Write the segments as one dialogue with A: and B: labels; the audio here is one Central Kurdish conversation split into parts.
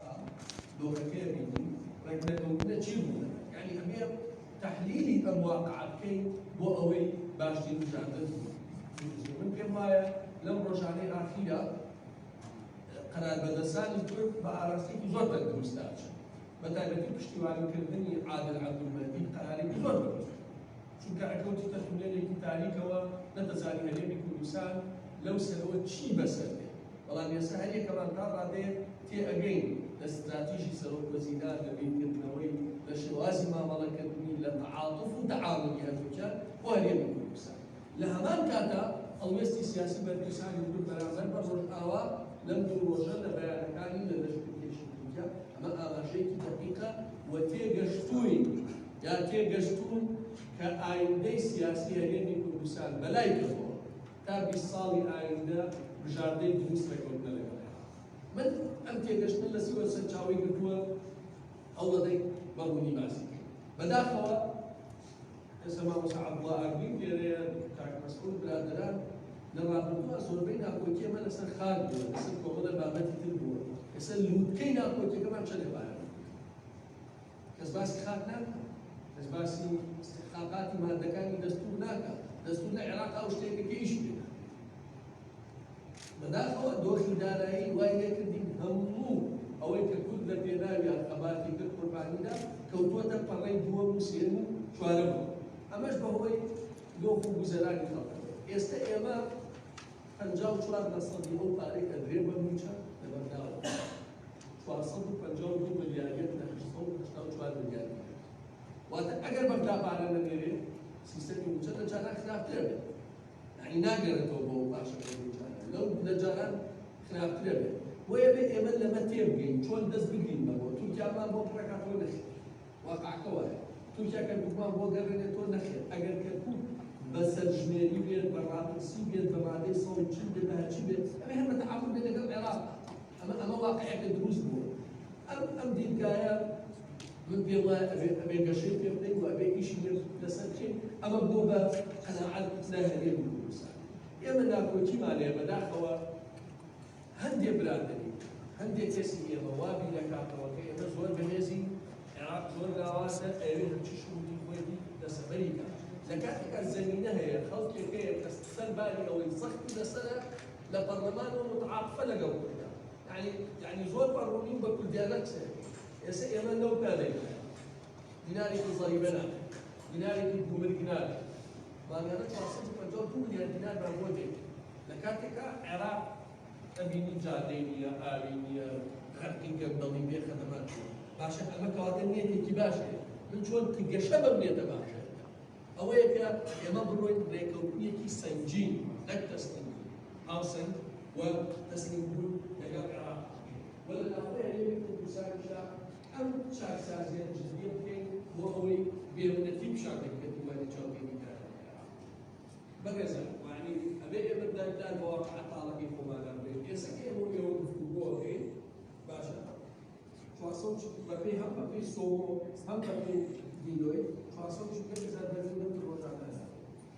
A: ئا دۆخە کێ بینی ڕێک نەکەوتنە چی ڕوو دەدات یانی ئەبێ تەحلیلی ئەم واقعە بکەین بۆ ئەوەی باشتر بژاردە بکەین من پێم وایە لەم ڕۆژانەی ئاخیرە قەراربەدەسانی تورک بە ئاراستێکی زۆر تەندروستدا چن بە تایبەتی پشتیوانیکردنی عادل عەبدولمەندی قەرارێکی زۆر بەرز چونکە ئەکەوتی تەتونێلێکی تاریکەوە نەدەزانی هەرێمی کوردستان لەو سەرەوە چی بەسەر بەڵام ئێستا هەریەکەمان تا ڕادەیەک تێ ئەگەین لە ستراتیژی سەرۆک وەزیران، لە بیرکردنەوەی، لە شێوازی مامەڵەکردنی، لە تەعاتوف و تەعاونی هەردووکیان بۆ هەرێمی کوردستان. لە هەمان کاتدا هەڵوێستی سیاسی بەرپرسانی کورد بەرامبەر بە ڕۆژئاوا لەم دوو ڕۆژە لە بەیانەکانی لە لەشکرکێشی تورکیا، ئەمە ئاماژەیەکی دەقیقە و تێگەشتووین یا تێگەشتوون کە ئایندەی سیاسی هەرێمی کوردستان بەلای کەمەوە، تا بیست ساڵی ئایندە بژاردەی دروست ڕێکەوتنە لەگەڵ عێراق. من ئەم تێگەشتنە لە سیوەت سەرچاوەی گرتووە، هەوڵەدەین بە ڕوونی باسی بکەین. بەداخەوە ئێستا مامۆستا عەبدوڵا ئاگرین لێرەیە، کاک مەسعود، برادەران، لە ڕابردووە زۆربەی ناکۆکی ئەمە لەسەر خاک بووە، لەسەر کۆمەڵە بابەتی تر بووە، ئێستا لووتکەی ناکۆکیەکەمان چەندە بارە؟ کەس باسی خاک ناکات کەس باسی استحقاقاتی مادەکانی دەستور ناکات دەستور لە عێراق ئەو شتێکە پێیش بێت بەداخەوە دۆخی دارایی وای لێکردین هەموو ئەوەی کە کورد لە پێناوی ئەقەباتی کرد قوربانیدا کەوتووەتە پەڕەی دووەم و سێن و چوارەوە ئەمەش بەهۆی دۆخ و گوزەرانی خەڵک ئێستا ئێمە پەنجا و چوار لە سەدی ئەو پارەی کە درێ بە مووچە لە بەنداوە دەدرێت چوار سەد و پەنجا و دوو ملیار یەک لە هەشت سەد و هەشتا و چوار ملیار دینار واتە ئەگەر بەغدا پارە نەنێرێ سیستەمی مووچە لە جاران خراپترە بێت یعنی ناگەرێتەوە بۆ باشەکەی جاران لەو لە جاران خراپترە بێت بۆیە بێ ئێمە لەمە تێبگەین چۆن دەست بگرین بەوە تورکیامان بۆ پڕەکاتەوە نەخێت واقعەکە وایە تورکیا کەرکوکمان بۆ گەڕێنێتەوە نەخێر ئەگەر کەرکوک بە سەرژمێری بێت بە ڕاپرسی بێت بە مادەی سەد و چل بێت بە هەرچی بێت ئەمە هەر بە تەعاون بێت لەگەڵ عێراق ئەمە ئەمە واقعەکە دروست بووە ئەم ئەم دیدگایە من پێم وایە ئەبێ ئەبێ گەشەی پێ بدەین و ئەبێ ئیشی لێ لەسەر بکەین ئەمە بۆ بە قەناعەت لای هەرێمی کوردستان ئێمە ناکۆکیمان هەیە بەداخەوە هەندێ برا دەبین، هەندێ کەسی ئێمە وا بیردەکاتەوە کە ئێمە زۆر بەهێزین، عێراق زۆر لاوازە، ئەیەوێ هەرچی شروتی خۆی بی دەستەبەری کا، لە کاتێکا زەمینە هەیە، خەڵکێک هەیە کە سەر باری ئەوەی زەختی لەسەرە لە پەڕلەمانەوە موتعاتفە لەگەڵ کوردا، یانی یانی زۆر بە ڕوونی و بە کوردیانە قسەی ئەکەین، ئێسە ئێمە لەو پلانەی دایین. دینارێکی زەریبە ناکەن دینارێکی گومرگ ناکەن مانگانە 452 ملیار دینارمان بۆ دێت لە کاتێکا عێراق ئەبینی جادەی نییە ئاوی نییە خەرقی گەندەڵی بێ خەدەمات باشە ئەمە کەواتە نیەتێکی باشێ من چۆن گەشە بەم نێتە باشە ئەوەیە کە ئێمە بڕۆین ڕێکەوتنیەکی سەنجی نەک تەسلیم هاوسەنگ و تەسلیم بوون لەگەڵ عێراق ولا الأخوة اللي يمكن تساعد ئەم چاکسازییە جدییە بکەین بۆ ئەوەی بێمنەتی پیشانگەی پێتیوانی چاودێریکاران لە عێراق بەهێزە، یەعنی ئەبێ ئێمە دایبدان بە واقع تاڵەکەی خۆمان ئەم بێ ئێستا کە ئێمە و ئێوە گفتوگۆ ئەکەین باشە چوار سەد و چل بەپێی هەم بەپێی سۆمۆ هەم بەپێی دیلۆیت چوار سەد و چل هەزار بەرمیل نەوتی ڕۆژانە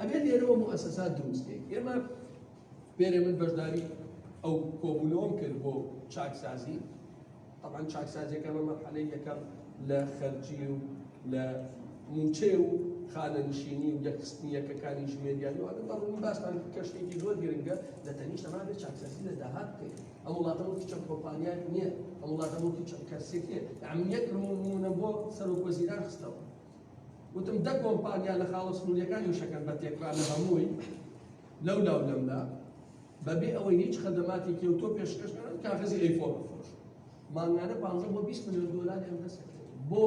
A: ئەبێت لێرەوە موسسات دروستکەین ئێمە بێرێ من بەشداری ئەو کۆبوونەوەم کرد بۆ چاکسازی طبعا چاکسازیەکە بە مەرحەلەی یەکەم لە خەرجی و لە موچێ و خانە نشینی و یەکستنی یەکەکانی ژمێریان و ئەگە بەڕوون باسمان کەشتێکی زۆر گرنگە لە تەنیش ئەمان بێ چاکسازی لە داهات بکەین ئەم وڵاتەوەکی چەند کۆمپانیات نییە ئەم وڵاتەوەکی چەند کەسێک نیە ئەمنیەت ڕمونە بۆ سەرۆک وەزیران خستەوە وتم دە کۆمپانیا لە خاڵە سنووریەکانی وشەکەن بە تێکرا لە هەمووی لەو لاو لەملا بەبێ ئەوەی هیچ خەدەماتی کێوتۆ پێشکەشکردن کاغزی ئەیفۆن بفرۆش مانگانە 15 بۆ 20 میلیۆن دلاری ئەم دەست بۆ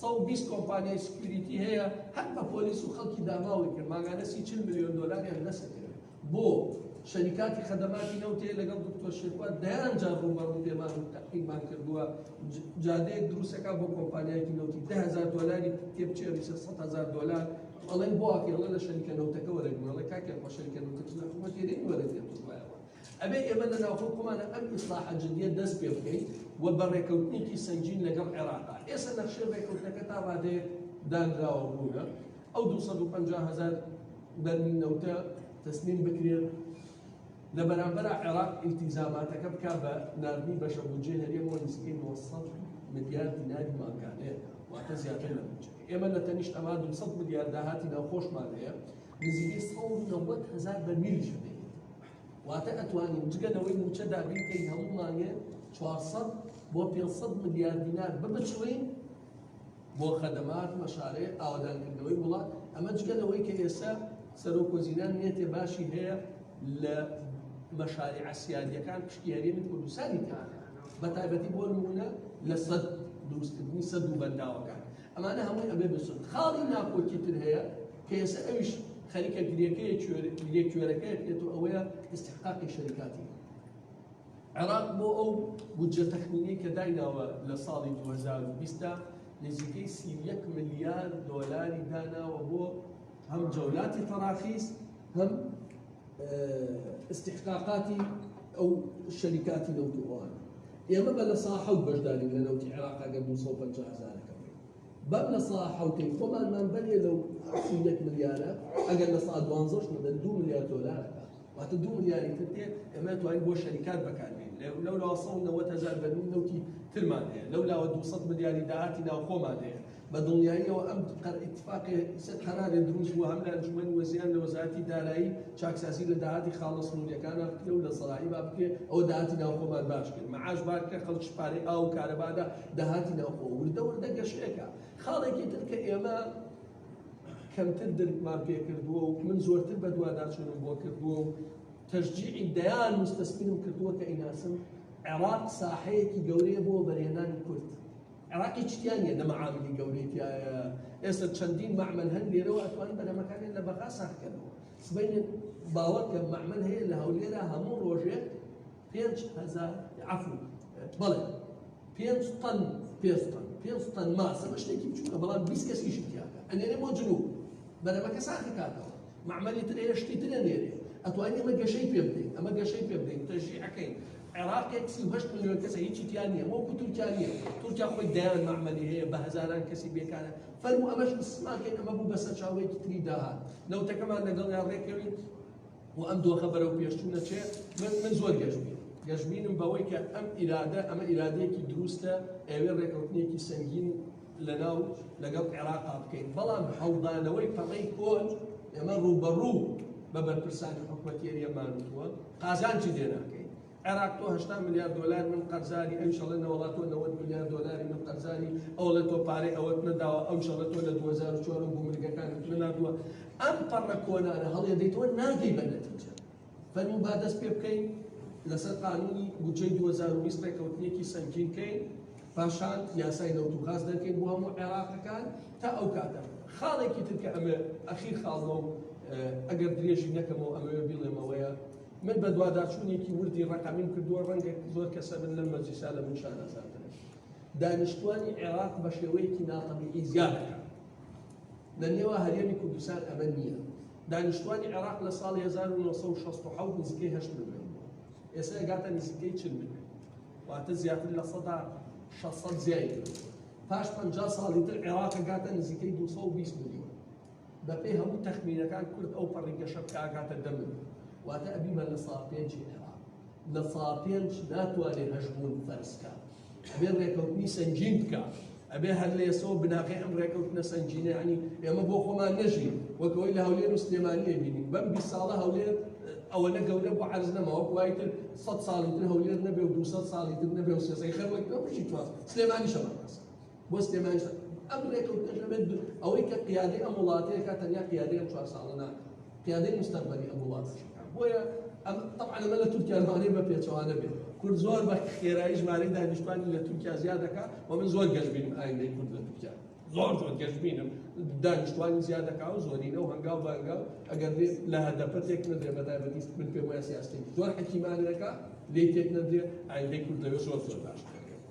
A: 120 کۆمپانیای سکیوریتی هەیە هەر بە پۆلیس و خەڵکی داماوی کرد ماگانە سی چل میلیۆن دلاری هەندەسە کرد بۆ شەریکاتی خەدەماتی نەوتێ لەگەڵ دکتۆر شێخوا دەیان جار ڕووبەڕوو پێمان و تەقیمان کردووە جادەیەک دروستەکە بۆ کۆمپانیایکی نەوتی دههزار دۆلاری تێبچێری سە هزار دۆلار ئەڵێن بۆ ئاکێڵە لە شەریکە نەوتەکە وەرەگوڵە کاکێ خۆ شەریکە نەوتەکە لە حکومەت تێرێن وەرەگێت وایەوە ئەبێ ئێمە لە ناوخۆ خۆمانە ئەم ئیسلاح جدیە دەست پێ بکەین و بە ڕێکەوتنێکی سەنجین لەگەڵ عێراقا ئێستا نەخشێ ڕێکەوتەکە تا ڕادێ دانراوە بوونە ئەو دوو سەد و پەنجا هەزار بەرمیل نەوتە تەسلیم بکرێت، لە بەرامبەرا عێراق ئیلتیزاماتەکە بکات بە ناردنی بەشە بودجەی هەرێمەوە نزیکەی نۆ سەد ملیار دیناری مانگانەیە، واتە زیاتر لە بودجەکە. ئێمە لە تەنیشت ئەمە دوو سەد ملیار داهاتی ناوخۆشمان هەیە، نزیکەی سەد و نەوەد هەزار بەرمیلیش هەبێت، واتە ئەتوانین جگە لەوەی مووچە دابین کەین هەموو مانگێ چوار سەد بۆ پێنج سەد ملیار دینار ببچڵێین، بۆ خەدەمات و شارەی ئاوەدانکردنەوەی وڵات، ئەمە جگە لەوەی کە ئێستا سەرۆک وەزیران نیەتێ باشی هەیە لە مەشاریعە سیادیەکان پشکی هەرێمی کوردستانی تێکەن بە تایبەتی بۆ نمونە لە سەد دروستکردنی سەد و بەنداوەکان ئەمانە هەمووی ئەبێ بسن خاڵی ناکۆکی تر هەیە کە ئێستا ئەویش خەریکە گرێکەیە گرێ کوێرەکەی پێت و ئەوەیە استحقاقی شەریکاتی عێراق بۆ ئەو بودجە تەخمینەی کە دایناوە لە ساڵی دوو هەزار و بیست دا نزیکەی سی و یەک ملیار دۆلاری داناوە بۆ هەم جەولاتی تەراخیس هەم استحقاقاتی ئەو شەریکاتی نەوت و ئەوان ئێمە بە لە سا حەوت بەشداری لە نەوتی عێراق ئەگەر دوو سەد و پەنجا هەزارەکە بەر لە سا حەوتەی خۆمانمان بەرێ لەو سی و یەک ملیارە ئەگەر لە سا دوانزەش بدەن دوو ملیار دۆلارەکە واتە دوو ملیاری تر دێ ئێمە توانین بۆ شەریکات بەکاربین لەولاوە 1990 هزار بەرمیل نەوتی ترمان هەیە لەولاوە 200 ملیاری داهاتی ناوخۆمان هەیە بە دڵنیاییەوە ئەم اتفاقی قەرارێ دروست بووە هەم لە ئەنجومەنی وەزیران لە وەزارەتی دارایی چاکسازی لە داهاتی خاڵە سنووریەکانە بکرێ و لە زەراعی با بکرێ ئەو داهاتی ناوخۆمان باش کرد معاش بار کە خەڵک پارەی ئاو و کارەبادا داهاتی ناوخۆ وردە وردە گەشەیەکە خاڵێکی تر کە ئێمە کەمتر درکمان پێ کردووە و من زۆرتر بەدواداچوونم بۆ کردووە و تەشجیعی دەیان مستەسپینم کردووە کە ئیناسم عێراق ساحەیەکی گەورەیە بۆ بەرێنانی کورد عێراقی چتیان نیە دەمە عاملی گەورەیتیایە ئێستا چەندین معمل هەن لێرەوە ئەتوان بەرەمەکانیان لە بەغا ساخکەنەوە سبینێت باوەکە معمل هەیە لە هەولێرە هەموو ڕۆژێک پێنج هەزار عفو بەڵێ پێنج تەن پێنج تەن پێنج تەن ماسە بە شتێکی بچووکە بەڵام بیست کەس ئیشی تیاکە ئەنێرێ بۆ جنوب بەرەمەکە ساخی کاتەوە معمەلی تر ئێرە شتی تر ئەنێرێ ئەتوانین ئەمە گەشەی پێ بدەین ئەمە گەشەی پێ بدەین تەژیعەکەین عێراقێک سی هەشت ملیۆن کەسە هیچی تیا نییە وەکو تورکیا نییە تورکیا خۆی دەیان معمەلی هەیە بە هەزاران کەسی بێکارە فەرمو ئەمەش مسماکەین ئەمە بوو بە سەرچاوەیەکی تری داهات نەوتەکەمان لەگەڵیان ڕێکەوین بۆ ئەم دۆخە بەرەو پێشچوونە چێ من من زۆر گەشتبین گەشتبینم بەوەی کە ئەم ئیرادە ئەمە ئیرادەیەکی دروستە ئەوێ ڕێکەوتنێکی سەنگین لەناو لەگەڵ عێراقا بکەین بەڵام هەڵدانەوەی پەڕەی کۆن ئێمە ڕووبەڕوو بە بەرپرسانی حکوومەتێریەمانوە قازانجی لێناکەین عێراق تۆ هەشتا ملیار دۆلار من قەرزاری ئەویش ئەڵێ نەوەڵا تۆ نەوەد ملیار دۆلاری من قەرزاری ئەو ئەڵێ تۆ پارەی ئەوەت نەداوە ئەویش ئەڵێ تۆ لە دوو هەزار و چوار و گومرگەکانت نەناردووە ئەم پەڕە کۆنانە هەڵێدەیتەوە ناگەی بە نەتیجە فەرموو با دەست پێ بکەین لەسەر قانونی بودجەی 2020 ڕێککەوتنێکی سەنگین بکەین پاشان یاسای نەوت و غاز دەکەین بۆ هەموو عێراقەکان تا ئەو کاتە خاڵێکی تر کە ئەمە ئەخیر خاڵەوە ئەگەر درێژی نەکەمەوە ئەمەوێ بڵێمەوەیە من بەدواداچوونێکی وردی ڕەقەمیم کردووە، ڕەنگە زۆر کەسە بن لەم مەجلیسە لە من شانازاترن. دانیشتووانی عێراق بە شێوەیەکی ناتەبیعی زیاد دەکەن. لە نێوا هەرێمی کوردستان ئەمە نییە. دانیشتووانی عێراق لە ساڵی 1960 نزیکەی هەشت ملیۆن بوو. ئێستا گاتە نزیکەی چل ملیۆن. واتە زیاتر لە سەدا 600 زیای کردووە. پاش 50 ساڵی تر عێراق گاتە نزیکەی 220 ملیۆن. بەپێی هەموو تەخمینەکان کورد ئەو پەڕی گەشە بکە ئەگاتە دە مل واتە ئەبیمان لە سا پێنجی عێراق لە سا پێنج ناتوانێت هەشبوون فەرزکە ئەبێ ڕێکەوتنی سەنجین بکە ئەبێ هەر لە ئێسەوە بناغی ئەم ڕێکەوتنە سەنجینە عنی ئێمە بۆ خۆمان نەژین وەکەوەی لە هەولێر و سلێمانیە بینین بەم بی ساڵە هەولێر ئەوەنە گەورە بۆ عرز نەماوە وای تر سە ساڵی تر هەولێر نەبێ و دو ساڵی تر نەبێ و سێزەی خەر وەک بژی تواز سلێمانی شەمە بۆ سلێمانیش ئەم ڕێکەوتنەش ئەبێت ئەوەی کە قیادەی ئەم وڵاتەیەکە تەنیا قیادەی ئەم چوار ساڵە ناکات قیادەی مستەقبەلی ئەم وڵاتەش بۆیە ئەم طبعا ئەمە لە تورکیا لەوانەیە بە پێچەوانە بێت کورد زۆر بە خێرایی ژمارەی دانیشتوانی لە تورکیا زیاد دەکات و من زۆر گەشبینم ئایندەی کورد لە تورکیا زۆر زۆر گەشبینم دانیشتوانی زیاد دەکات و زۆرینە و هەنگاو بەنگاو ئەگەر بێت لە هەدەپە تێک نەدرێ بەتایبەتی من پێم وایە سیاستی زۆر حەکیمانەکە لێی تێک نەدرێ ئایندەی کورد لەوێ زۆر زۆر باش دەکات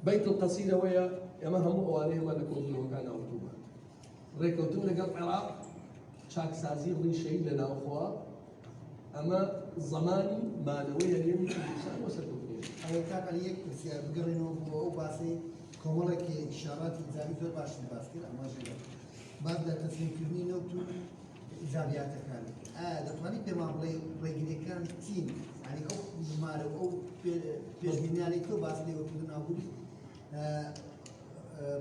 A: بەیت القەسید ئەوەیە ئێمە هەموو ئەوانەی ئەمە لە کۆبوونەوەکان ئەوتومان ڕێکەوتن لەگەڵ عێراق چاکسازی ڕیشەی لە ناوخوا ئەمە زمانی مانەوەی هەرێمی کوردستان بۆ سەرکەوتنی ئەوە کاک عەلی یەک
B: پرسیار بگەڕێنەوە بۆ ئەو باسەی کۆمەڵێک ئیشاراتی زانی زۆر باشی باس کرد ئەمەش باس لە تەسلیمکردنی نەوت و حیسابیاتەکان ئایا دەتوانیت پێمان بڵێ ڕێگریەکان چین ینی ئەو ژمارە و ئەو پێشبینیانەی تۆ باس لێ وەکو نابووی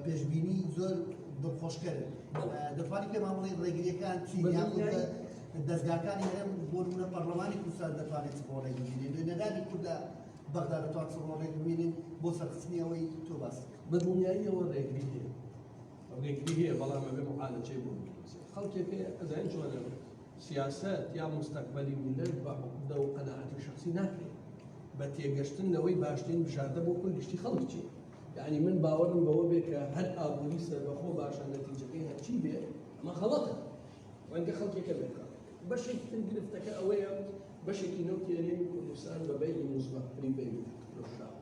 B: پێشبینی زۆر دڵخۆشکەر دەتوانانی پێمان بڵێ ڕێگریەکان چین دەستگاکانی هەرێم بۆ نمونە پەرلەمانی کوردستان دەتوانێت بۆ ڕێگیرێن نوێنەرانی کوردە بەغدا دەتوان چڕۆ ڕێگبینن بۆ سەرخستنی ئەوەی تۆ باس بە دڵنیاییەوە
A: ڕێگری ڕێگری هەیە بەڵام ئەبێ معالەجەی بۆ بدۆزێت خەڵکێک هەیە ئەزانین چۆنە سیاسەت یا مستەقبەلی میلەت بە عقدە و قەناعەتی شخصی ناکرێت بە تێگەشتن لەوەی باشترین بژاردە بۆ کل گشتی خەڵک چی یعنی من باوەڕم بەوە بێ کە هەر ئابووری سەربەخۆ باشە نەتیجەکەی هەرچی بێ ئەمە خەڵەتە ڕەنگە خەڵکێکە بێت بەشێکی تر گرفتەکە ئەوەیە بەشێکی نەوتێنێ کوردستان بە بەیلی موزبەت پری بەیلی فرۆشراوە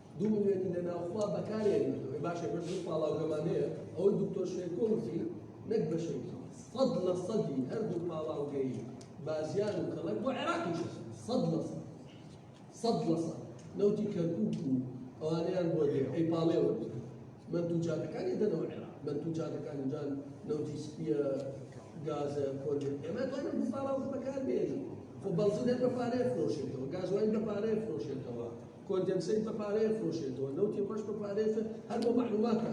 A: دوو ملیۆنی لە ناوخوا بەکارێ بردووە باشە بەر دوو پاڵاوگەمان هەیە ئەوەی دکتۆر شێرکۆ وتی نەک بەشێکی سەد لە سەدی هەردوو پاڵاوگەی بازیان و کەڵک بۆ عێراقیش سەد لە سەد سەد لە سەد نەوتی کەرکوک و ئەوانەیان بۆ دێ ئەی پاڵێوە من دوو جادەکانی دەنەوە عێراق من دوو جادەکانی جان نەوتی سپیە گازە کۆلێ ئێمە توانم دوو پاڵاوگە بەکار بێنین خۆ بەڵزی دەر بە پارەیە فرۆشێتەوە گازوای بە پارەیە فرۆشێتەوە کۆندێنسەیت بە پارەیە فرۆشێتەوە نەوتی ڕەش بە پارەیە فرۆ هەر بۆ مەعلوماتە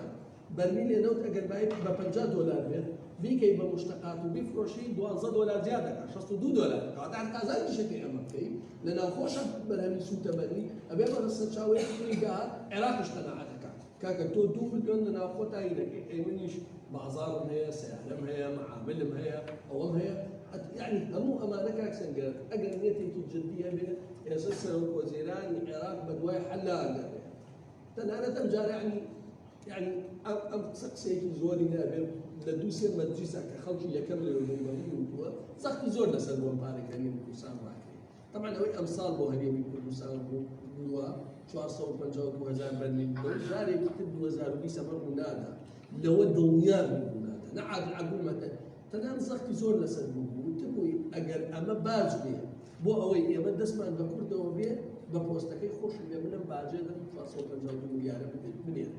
A: بەرمیلێ نەوت ئەگەر بایەکی بە پەنجا دۆلار بێت بیکەی بە مشتەقات و بیفرۆشی دوازدە دۆلار زیاد دەکات شەست و دوو دۆلار کەواتە هەر قازانجیشەکەی ئەمە بکەی لە ناوخۆشە بەرهەمی سووتەمەنی ئەبێ بە سەرچاوەیەکی تری داهات عێراقیش قەناعەت دەکات کاکە تۆ دوو ملیۆن لە ناوخۆ تاین دەکەی ئەی منیش بازارم هەیە سیارەم هەیە مەعاملم هەیە ئەوەم هەیە یعنی هەموو ئەمانە کاک سەنگەر ئەگەر نێتێکی جددی هەبێت ئێستا سەرۆک وەزیرانی عێراق بەدوای حەلان دەبێت تەنانەت ئەم جارە عنی یعنی ئەم ئەم قسە قسەیەکی زۆری نابێت لە دوو سێ مەجلیسا کە خەڵکی یەکەم لێ بوون بە وتووە زەختی زۆر لەسەر بۆم پارەکەنی کوردستان ڕاکرێت تەبعەن ئەوەی ئەمساڵ بۆ هەرێمی کوردستان بوو بووە چوار سەد و پەنجا و دوو هەزار بەرمیل بوو، جارێکی تر دوو هەزار و بیست ئەمە ڕوو نادا. لەوە دڵنیا بن ڕوو نادا. نە عادل عەبدولمەتەن تەنان زەختی زۆر لەسەر بوو بوو، وتبووی ئەگەر ئەمە باج بێ بۆ ئەوەی ئێمە دەستمان بە کوردەوە بێ، بە پۆستەکەی خۆشم بێ منم باجێ دەم چوار سەد و پەنجا و دوو ملیارە بنێرم.